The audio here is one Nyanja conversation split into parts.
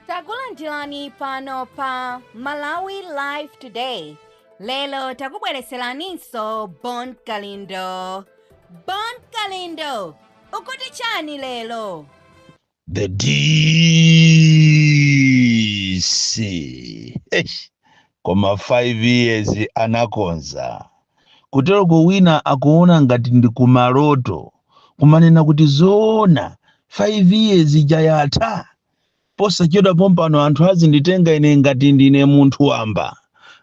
takulandirani pano pa malawi live today lero takubwereseraninso bon kalindo bon kalindo ukuti chani lero The DC. Eish. Koma 5 years anakonza. kuteroko wina akuona ngati ndi ku maloto kumanena kuti zoona 5 years ija yatha? Posachedwa pompano anthu azinditenga ine ngati ndine munthu wamba.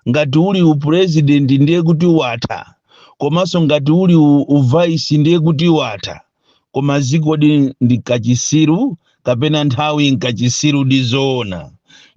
Ngati uli u president ndiye kuti watha komanso ngati uli u vice ndiye kuti watha. koma zikodi nthawi ndi kachisiru kapena nthawi nkachisiru ndi zoona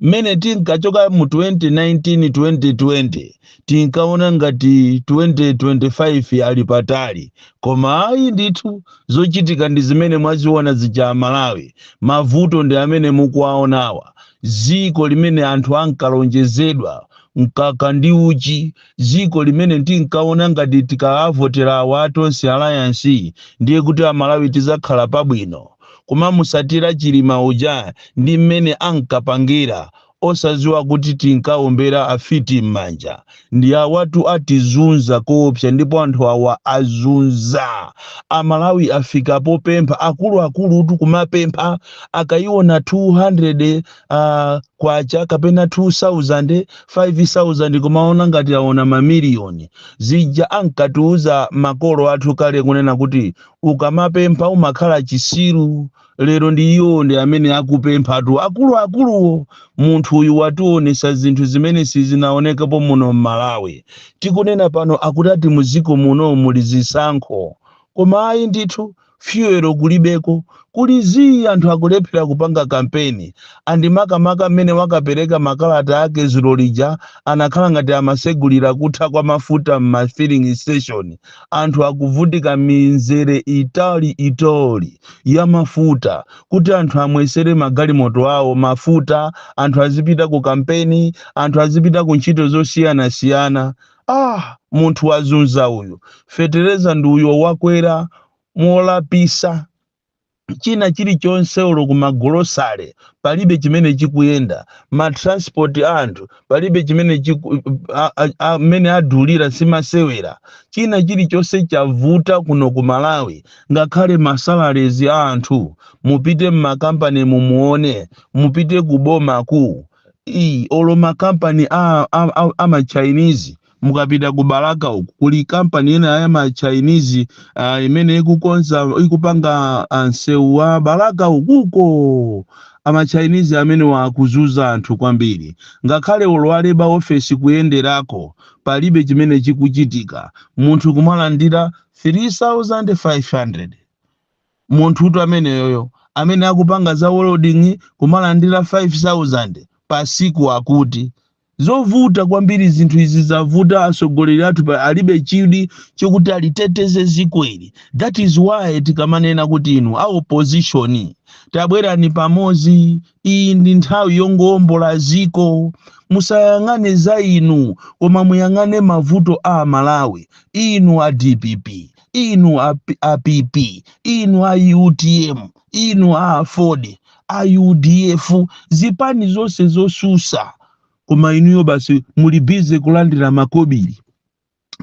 mmene tinkachoka mu 2019 2020 tinkaona ngati 2025 ali patali koma ayi ndithu zochitika ndi zimene mwaziona zija amalawi mavuto ndi amene mukuwaonawa dziko limene anthu ankalonjezedwa mkaka ndi uchi dziko limene tinkaona ngati tikaavotera awa a Tonse Alliance ndiye kuti amalawi tizakhala pabwino kumamutsatira chilima uja ndi mmene ankapangira osaziwa kuti tinkaombera afiti mmanja ndi awatu atizunza koopsa ndipo anthu awa azunza amalawi afika popempha akuluakulutu kumapempha akaiona 200 uh, kwacha kapena 2000 5000 kumaona ngati aona mamiliyoni zija ankatiuza makolo athu kale kunena kuti ukamapempha umakhala chisiru lero ndi iyo ndi amene akupemphatu akuluakuluwo munthu uyu wationesa zinthu zimene sizinaonekepo muno m'malawi tikunena pano akutati muziko muno muli zisankho koma ayi ndithu fuel kulibeko kuli zii anthu akulephera kupanga kampeni and makamaka mmene wakapereka makalata ake zulo lija anakhala ngati amasegulira kutha kwa mafuta mma filling station anthu akuvutika mizere itali itali ya mafuta kuti anthu amwesere magalimoto awo mafuta anthu azipita ku kampeni anthu azipita ku ntchito zosiyanasiyana Aaa munthu wazunza uyu, fetereza ndi uyo wakwera molapisa, china chilichonse olo ku ma golosale palibe chimene chikuyenda, ma transport a anthu palibe chimene chiku, a, a, a, mene zadulira simasewera, china chilichonse chavuta kuno ku Malawi, ngakhale ma salaries a anthu, mupite mmakampanimu muone, mupite ku bomaku, ii olo ma company a a a a ma chinese mukapita ku Balaka uku kuli company ina ya ma chinese uh, imene ikukonza ikupanga ah, msewu wa Balaka ukuko ama chinese amenewa akuzuza anthu kwambiri ngakhale olo aleba ofesi kuyenderako palibe chimene chikuchitika munthu kumalandira 3500 Munthutu ameneyoyo amene akupanga za welding kumalandira 5000 pa siku akuti zovuta kwambiri zinthu izi zavuta atsogoleri athu pa alibe chidwi chokuti aliteteze ziko ili that is why tikamanena kuti inu a opposition tabwerani pamodzi iyi ndi nthawi yongowombola ziko musayang'ane za inu koma muyang'ane mavuto a amalawi inu a dpp inu a, a pp inu a utm inu a aford a udf zipani zonse zosusa koma inuyo basi muli bize kulandira makobiri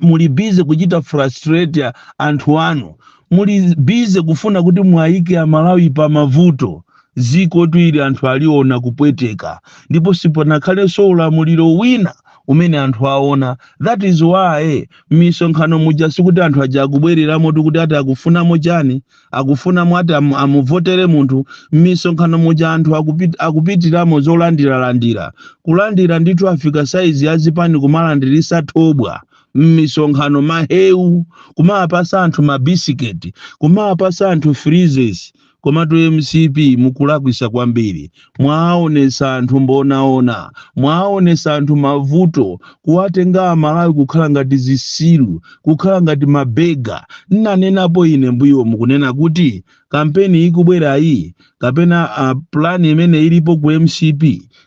muli bize kuchita frustrate a- anthu anu muli bize kufuna kuti mwayike amalawi pa mavuto Dzikotu ili anthu aliona kupweteka ndipo sipanakhalenso ulamuliro wina umene anthu aona that is why mmisonkhano muja sikuti anthu aja akubwereramotu kuti ati akufunamo chani, akufunamo ati amu, amuvotere munthu, mmisonkhano muja anthu akupit, akupitiramo zolandiralandira, kulandira ndithu afika saizi ya zipani kumalandirisa thobwa mmisonkhano, maheu, kumawapasa anthu mabisiketi, kumawapasa anthu freezes, komatu mcp mukulakwisa kwambiri mwaonesa anthu mbonaona mwaonesa anthu mavuto kuwatenga amalawi kukhala ngati zisilu kukhala ngati mabega nnanenapo ine mbuyomu kunena kuti kampeni ikubwerayi kapena uh, plani imene ilipo ku mcp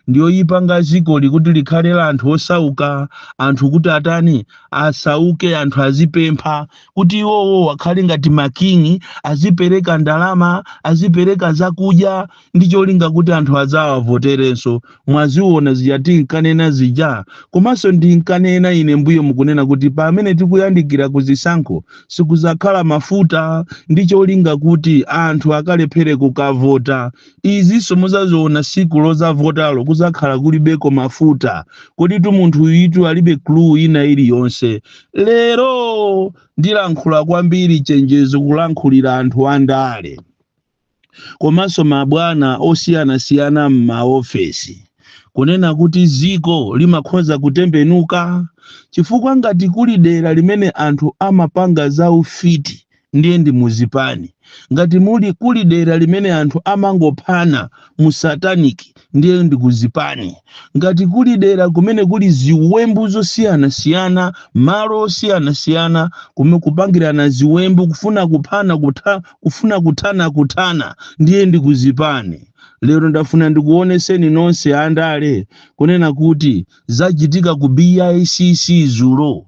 ndi yoyipanga zikoli kuti likhale la anthu osauka anthu kuti atani asauke anthu azipempha kuti iwowo akhale ngati makingi azipereka ndalama azipereka zakudya ndi cholinga kuti anthu adzawavoterenso mwaziona zija tinkanena zija komanso ndinkanena ine mbuyomu kunena kuti pamene tikuyandikira ku zisankho sikuzakhala mafuta ndi cholinga kuti anthu akalephere kukavota Izinso muzaziona siku lozavotalo kuzakhala kulibeko mafuta komatu munthu uyitu alibe clue ina iliyonse lero ndilankhula kwambiri chenjezo kulankhulira anthu andale komanso mabwana osiyanasiyana m'maofesi kunena kuti ziko limakhoza kutembenuka chifukwa ngati kuli dera limene anthu amapanga za ufiti ndiye ndi muzipani ngati muli kuli dera limene anthu amangophana mu satanic ndiye ndi kuzipani ngati kuli dera kumene kuli ziwembu zosiyanasiyana malo osiyanasiyana kume kupangirana ziwembu kufuna kuphana kutha, kufuna kuthana kuthana ndiye ndi kuzipani lero ndafuna ndikuoneseni nonse andale kunena kuti zachitika ku bicc zulo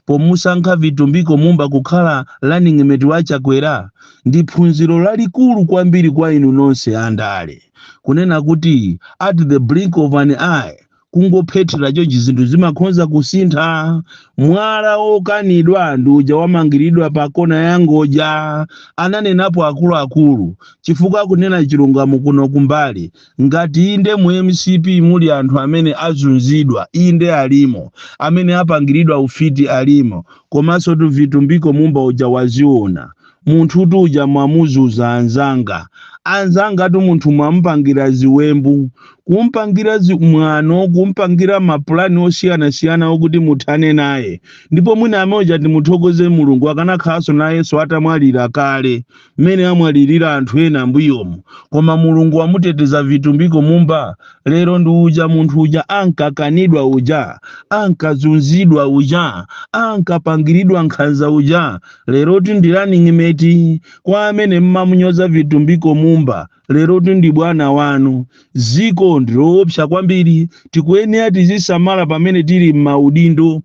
pomusankha Vitumbiko Mumba kukhala running mate wa Chakwera ndi phunziro lalikulu kwambiri kwa inu nonse andale kunena kuti at the blink of an eye kungophethira chonchi zinthu zimakhonza kusintha mwala wokanidwa ndi uja wamangiridwa pa kona ya ngodya ananenapo akuluakulu chifukwa kunena chilungamo kuno kumbali Ngati inde mu mcp muli anthu amene azunzidwa inde alimo, amene apangiridwa ufiti alimo komansotu vitumbiko mumba uja waziona munthutu uja mwamuzunza anzanga anzangatu munthu mwamupangira ziwembu kumpangira zi mwano kumpangira ma plan osiyana siyana okuti muthane naye ndipo mwina apa uja timuthokoze mulungu akanakhalanso nayenso atamwalira kale mmene amwalirira anthu ena mbuyomu koma mulungu wamuteteza vitumbiko mumba lero ndi uja munthu uja ankakanidwa uja ankazunzidwa uja ankapangiridwa nkhanza uja leroli ndi running mate kwa amene mmamunyoza vitumbiko mumba leroli ndi bwana wanu dziko ndiloopsa kwambiri tikuyenera tizisamala pamene tili mmaudindo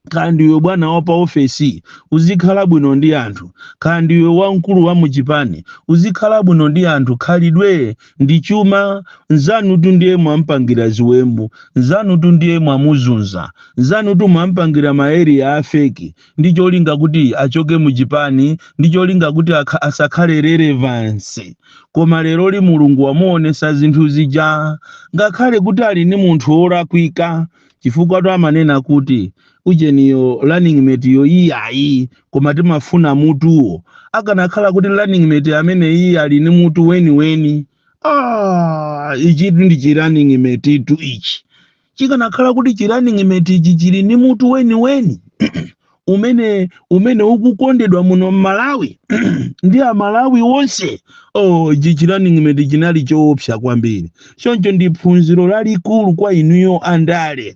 kaya ndiwe bwana wa pa ofesi uzikhala bwino ndi anthu kaya ndiwe wamkulu wa muchipani uzikhala bwino ndi anthu khalidwe ndi chuma nzanutu ndiye mwampangira ziwembu nzanutu ndiye mwamuzunza nzanutu mwampangira ma area a fake ndi cholinga kuti achoke muchipani ndi cholinga kuti akha- asakhale relevance koma leroli mulungu wamuonesa zinthu zija ngakhale kuti ali ni munthu wolakwika Chifukwatu amanena kuti ujeniyo, running mate yo, iyayi koma timafuna mutuwo. Akanakhala kuti running mate ameneyi ali ndi mutu weniweni, aah, ichitu ndi chi running mate tu ichi. Chikanakhala kuti chi running mate ichi chili ndi mutu weniweni, umene umene ukukondedwa muno m'malawi ndi amalawi onse oh ichi chi running mate chinali choopsa kwambiri choncho ndi phunziro lalikulu kwa inuyo andale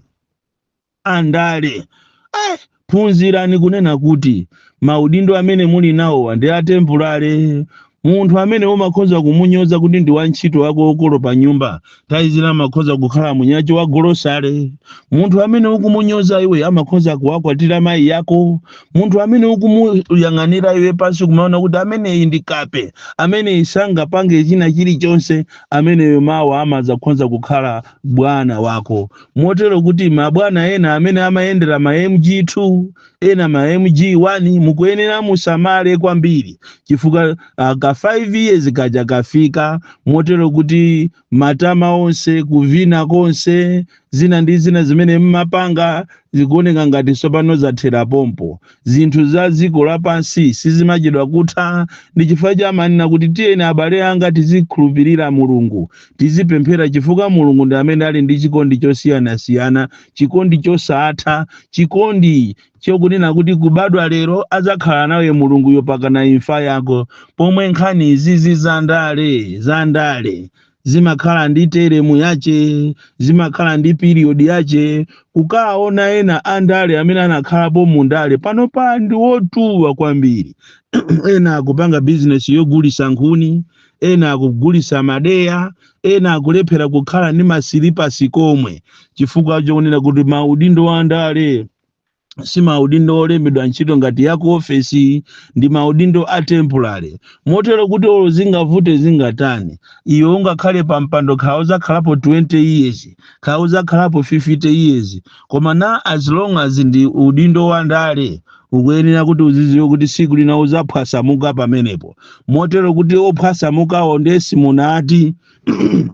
andale eh, phunzirani kunena kuti maudindo amene muli nawowa ndi a temporary Munthu amene umakhoza kumunyoza kuti ndi wantchito wako wokolopa nyumba, tayizira amakhoza kukhala munyacho wa golosale. Munthu amene ukumunyoza iwe amakhoza kuwakwatira mayi yako. Munthu amene ukumuyang'anira iwe pansi kumaona kuti ameneyi ndi kape, ameneyi sangapange china chilichonse, ameneyo mawa amadzakhoza kukhala bwana wako. Motero kuti mabwana ena amene amayendera ma MG2, ena ma MG1 mukuyenera musamale kwambiri chifukwa ah, ka 5 years kaja kafika motero kuti matama onse kuvina konse zina ndi zina zimene mmapanga zikuoneka ngati tsopano zathera pompo zinthu za dziko lapansi sizimachedwa kutha ndi chifukwa chake ndimanena kuti tiyeni abale anga tizikhulupirira mulungu tizipemphera chifukwa mulungu ndi amene ali ndi chikondi chosiyanasiyana chikondi chosatha chikondi chokunena kuti kubadwa lero adzakhala nawe mulunguyo pakana imfa yako pomwe nkhani izizi za ndale za ndale zimakhala ndi teremu yache zimakhala ndi period yache kukaona ena andale amene anakhalapo mu ndale panopa ndi wotuwa kwambiri ena akupanga bizinesi yogulisa nkhuni ena akugulisa madeya ena akulephera kukhala ndi masilipasi komwe chifukwa chonena kuti maudindo a ndale si maudindo olembedwa ntchito ngati ya ku ofesi ndi maudindo a temporary motero kuti olo zingavute zingatani iwe ungakhale pa mpando kaya uzakhalapo 20 years kaya uzakhalapo 50 years koma na as long as ndi udindo wa ndale ukuyenera kuti uziziwe kuti siku lina uzaphwasamuka pamenepo motero kuti ophwasamukawo ndiye simunati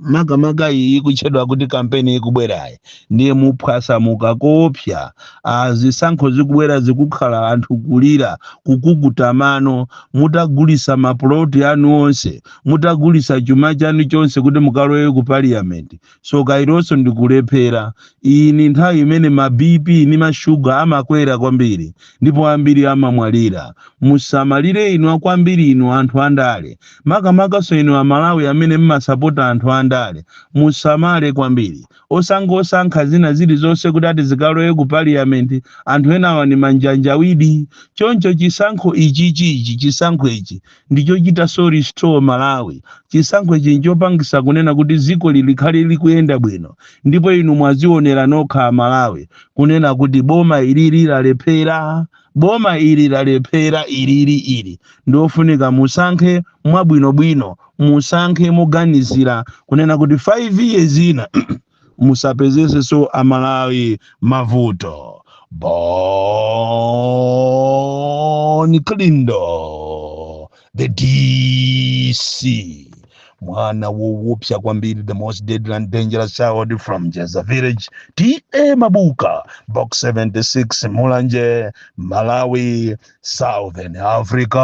makamaka iyi ikutchedwa kuti kampeni ikubwerayi ndiye muphwasamuka koopsa ah, zisankho zikubwerazi kukhala anthu kulira kukukuta mano mutagulisa mapuloti anu onse mutagulisa chuma chanu chonse kuti mukalowe ku parliament soka ilonso ndikulephera iyi ni nthawi imene ma bp ni mashuga amakwera kwambiri ndipo ambiri amamwalira musamalire inuwo kwambiri inu anthu andale makamakanso inu amalawi amene mmasapota anthu andale musamale kwambiri osangosankha zina zilizonse kuti ati zikalowe ku parliament anthu enawa ni ma Janjaweed choncho chisankho ichichi ichi chisankho ichi ndichochitanso restore Malawi. Chisankho ichi nchopangisa kunena kuti dzikoli likhale likuyenda bwino ndipo inu mwadzionera nokha a Malawi kunena kuti boma ilili lalephera. Boma ili lalephera ilili ili ndi ofunika musankhe mwabwinobwino musankhe moganizira kunena kuti 5 years ina musapezeseso amalawi mavuto Bon Kalindo the dc mwana wowopsa kwambiri the most deadly and dangerous child from jeza village TA Mabuka box 76 mulanje malawi southern africa